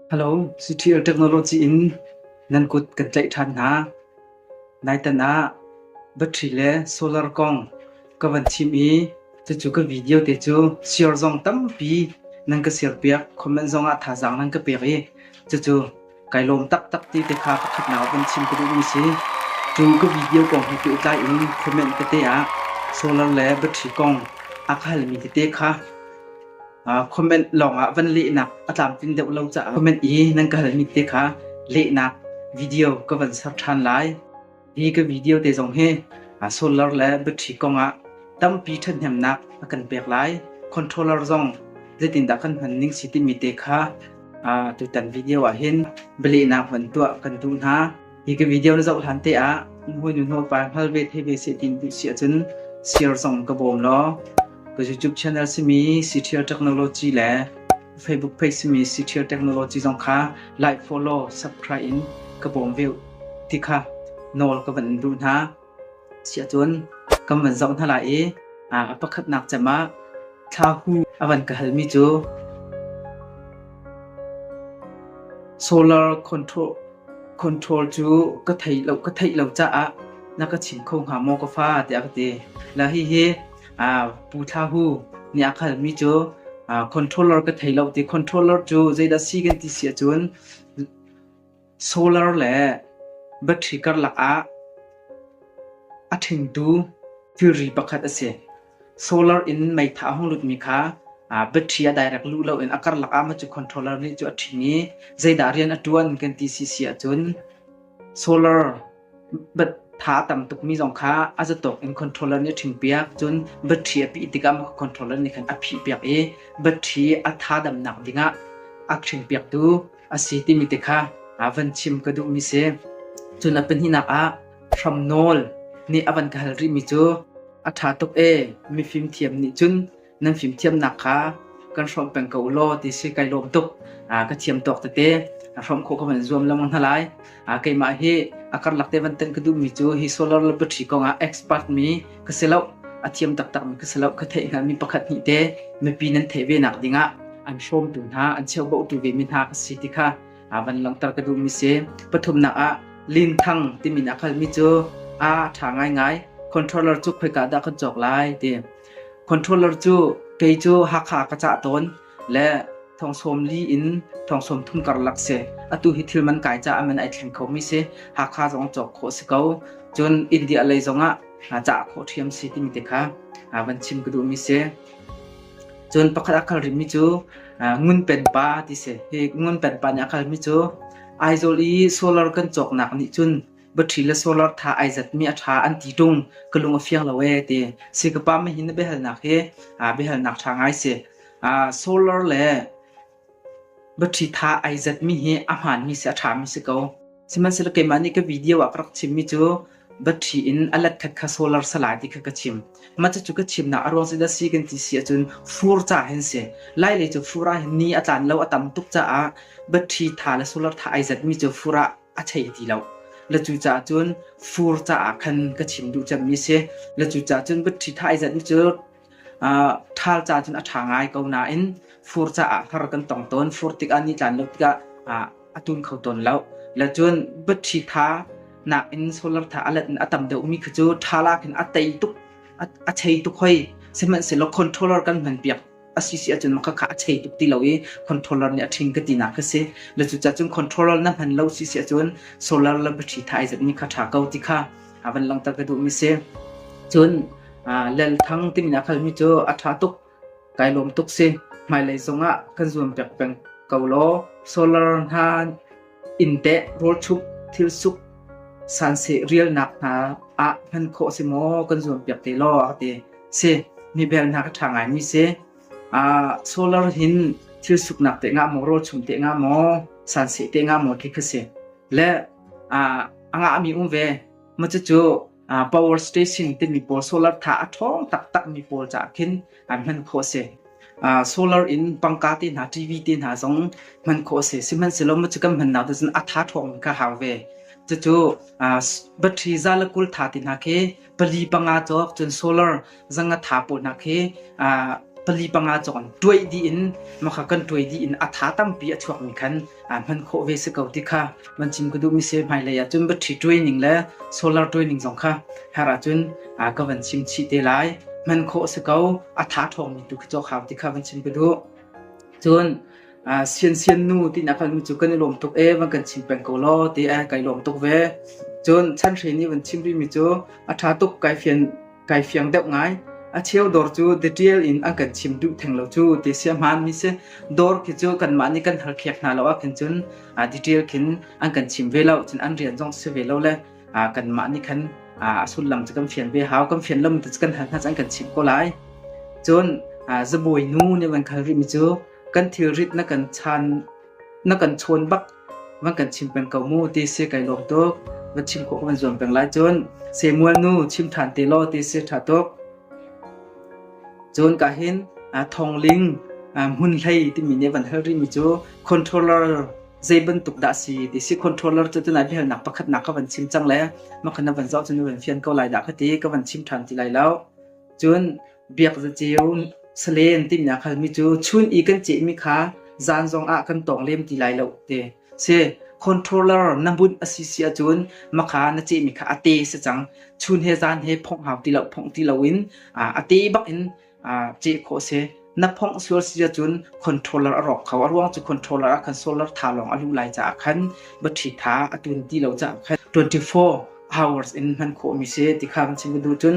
Hello, CTL technology in nan kut kan tlaih ṭhan hna. Naitan ah battery le solar kong ka van chim i cucu ka video te cu share zong tampi nan ka share piak. Comment zong ah thazaang nan ka pek i cucu kai lawm taktak ti te kha pakhatnak ah van chim ka duhmi si. Cu ka video kong he ke utlai in comment tete ah solar le battery kong a ka halmi tete kha comment lawngah van lehnak a tlamtling deuh lo caah comment i nan ka halmi te kha lehnak video ka van ser ṭhan lai hi ka video te zong hi solar le battery kongah tampi ṭhathnemnak a kan pek lai controller zong zeitindah kan hman ning si timi te kha tutan video ah hin balehnak van tuah kan duh hna Hi ka video na zoh hlan te ah na hawinu hnawpa hngal ve thei ve se tin ti si ahcun share zong ka bawm law ka YouTube channel simi Ctrial Technology le Facebook page simi Ctrial Technology zong kha like, follow, subscribe in ka bawm ve ti kha nawl ka van in duh hna. Siahcun kan van zoh hna lai i a pakhatnak cem ah thlahu a van ka halmi cu solar control control cu ka thei lo ka theih lo caah na ka chim kho hnga maw ka fa tiah ka ti. La hihi Pu Thlahu nih a ka halmi cu controller ka thei lo ti controller cu zeidah si kan ti siahcun solar le battery karlak ah a ṭhingtu thilri pakhat a si. Solar in meitha a hung lutmi kha battery a direct luh loin a karlak ah macu controller nih cu a ṭhing i zeidah rian a ṭuan kan ti sisi ahcun solar tha tam tuk mi zong kha a zatawk in controller nih a ṭhing piak cun battery a pih tikah mah controller nih khan a phih piak i battery a tha damnak dingah a ṭhing piaktu a si timi te kha van chim ka duh mi si cun a pahnihnak ah hram nawl nih a van ka hal rih mi cu a ṭha tuk e mifim thiam nih cun nan fimthiamnak kha kan hrawm peng ko law ti si kai lawm tuk ka thiam tawk tete hrawm kho ka van zuam lamang hna lai keimah hi a karlak te van tan ka duh mi cu hi solar labatary kongah expert mi ka si lo a thiam taktak mi ka si lo ka theih hnga mi pakhat ni te mipi nan thei ve nak dingah an shom tu hna an cheu bo tu ve mi hna ka si ti kha van langtar ka duh mi se pathumnak ah lin thang timin akhal mi cu a tha ngai ngai controller chu khoi ka da ka chok lai te Controller cu kei cu Hakha ka cah tawn le thongsawm li in thongsawm thum karlak si. Atu hi thil man kai caah man ai thleng khomi si. Hakha zong cawk khawh si ko. Cun India lei zongah cah khawh ṭhiam si timi te kha van chim ka duhmi si. Cun pakhat a kal rihmi cu Ngun Pen Pa ti si. Hi Ngun Pen Pa nih a kalmi cu Aizawl i solar kan cawknak nih cun battery le solar tha ai zatmi a tha an ti tung ka lung a fiang lo e ti si ka pa ma hin biahalnak hi biahalnak tha ngai si solar le battery tha ai zatmi hi a hman mi si a tha mi si ko sihmanhsehlaw keimah nih ka video ah ka rak chim mi cu battery in alat khat kha solar salai ti kha ka chim ma chu ka chim na arwang si da si kan ti si achun fur cha hen se lai le chu fura hin ni atlan lo atam tuk cha a battery tha le solar tha ai zat mi chu fura a thei ti lo. La cu ca cun fur caah khan ka chim duh cemmi si. La cu ca cun butṭhi thaizat cu ṭhal ca cun a ṭha ngai ko nain fur caah har kan tong tawn. Fur tikah ni tlan lo tikah a tum kho tawn lo. La cun butṭhi tha nakin solar tha a let in a tam deuhmi khi cu ṭhala khin a tei tuk, a chei tuk hoi. Sihmanhsehlaw controller kan hman piak a si si ahcun maka kha a chei tuk ti lo i controller nih a ṭhing ka tinak kha si na cucah cun controller na hman lo si si ahcun solar lam pathi tha ai zat ni kha ṭha ko ti kha a van langta ka duhmi si cun lel thang timi na khalmi cu a ṭha tuk kai lawm tuk si hmailei zongah kan zuam pek peng ko law solar hna Innteh, rawlchup, thilsuk, sanseh rialnak hna ah hman khawh a si maw kan zuampiak te law a ti. Si, mi belnak a ṭha ngaimi si. Uh, solar hin thilsuknak te nga maw, rawlchum te nga maw, sanseh te nga maw ti kha si. Le uh, a ngahmi um ve. Macucu power station timi pawl solar tha a ṭhawng taktakmi pawl caah khin an hman khawh a si. solar in pangka te hna TV te hna zong hman khawh a si. Sihmanhsehlaw macu kan hman nak cun a tha ṭhawng ka hau ve. Cucu battery zala kul tha te hna khi pali panga cawk cun solar zangatha punak hi pali panga cawng tuai di in makha kan tuai di in atha tampi a chuak mi khan hman kho ve se ko ti kha man chin ku du mi se mai le ya chun batri tuai ning le solar tuai ning zong kha hara chun ka van sim chi te lai man kho se ko atha thong mi tu khi cho khao ti kha van chin ku du chun sian sian nu ti na kan chu kan lom tuk e van kan chin peng ko lo ti e kai lom tuk ve chun chan hre ni van chim ri mi chu atha tuk kai phian kai fiang deuh ngai a cheu dawr cu detail in an kan chim duh theng lo cu ti sia hman mi se dawr khi cu kan mah nih kan har khiak hna lo a khin cun a detail khin an kan chim ve lo cun an rian zong si ve lo le a kan mah nih khan a sullam cu kan fian ve hau kan fian lam tu kan hal hna an kan chim ko lai cun zabawi nu ne van khal ri mi cu kan thil rit na kan chan na kan chawn bak van kan chim peng ko mu ti si kai lawm tuk va chim ko van zuam peng lai cun se mual nu chim than te lo ti si tha tuk cun ka hin thong ling mun hlei ti mi ne van hal ri mi chu controller zei bantuk da si ti si controller chu tu nai bihal nak pakhat nak ka van chim chang le ma khana van zau chun van fian ko lai da khati ka van chim than ti lai lo cun biak zaceu salen timinak halmi cu chun i kan cehmi kha zan zong ah kan tawng lem ti lai lo te si controller na bunh a si si ahcun makha na cehmi kha a te si cang chun he zan he phong hau ti lo phong ti lo in a te bak in ceh khawh si na phong sual si ahcun controller a rawk kho a ruang cu controller ah khan solar tha lawng a lu lai caah khan bathi tha a tun ti lo caah khan 24 hours in hman khawh mi si ti kha kan chim du cun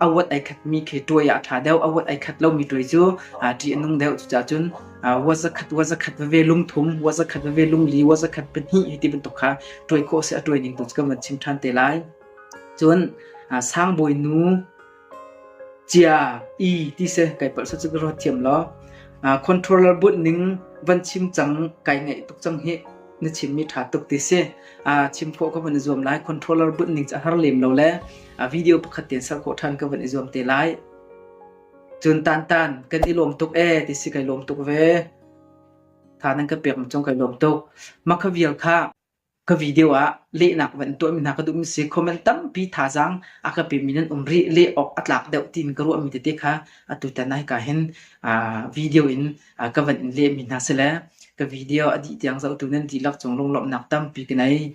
a wat ai khatmi khi tuai ah a ṭha deuh. A wat ai khat lomi tuai cu ṭih a nung deuh. Cucaah cun wa zakhat wa zakhat veve lungthum, wa zakhat veve lungli, wa zakhat pahnih hi ti bantuk kha tuai khawh seh a tuai ning tu cu kan van chim ṭhan te lai. Cun sang bawi nu cia i ti seh kai palh sat cu ka ruat thiam law controller but ning van chim cang kai ngaih tuk cang hi. na chimmi ṭha tuk ti si. Uh, chim khawh ka van i zuam lai. Controller bunh ning cu a har lem lo le uh, video pakhat ten ser khawh ṭhan ka van i zuam te lai. Cun tan tan kan i lawm tuk e ti si kai lawm tuk ve. Tha nan ka pek macong kai lawm tuk. Ma ka vial kha ka video ah lehnak van tuah mi hna ka duh mi si comment tampi thazang a ka pe mi nan um ri le ok a tlak deuh tin ka ruah mi tete kha atu tanai ka hin uh, video in ka van in lehmi hna sile ka video a dih tiang zohtu nan dihlak cung lunglawmhnak tampi ka nei.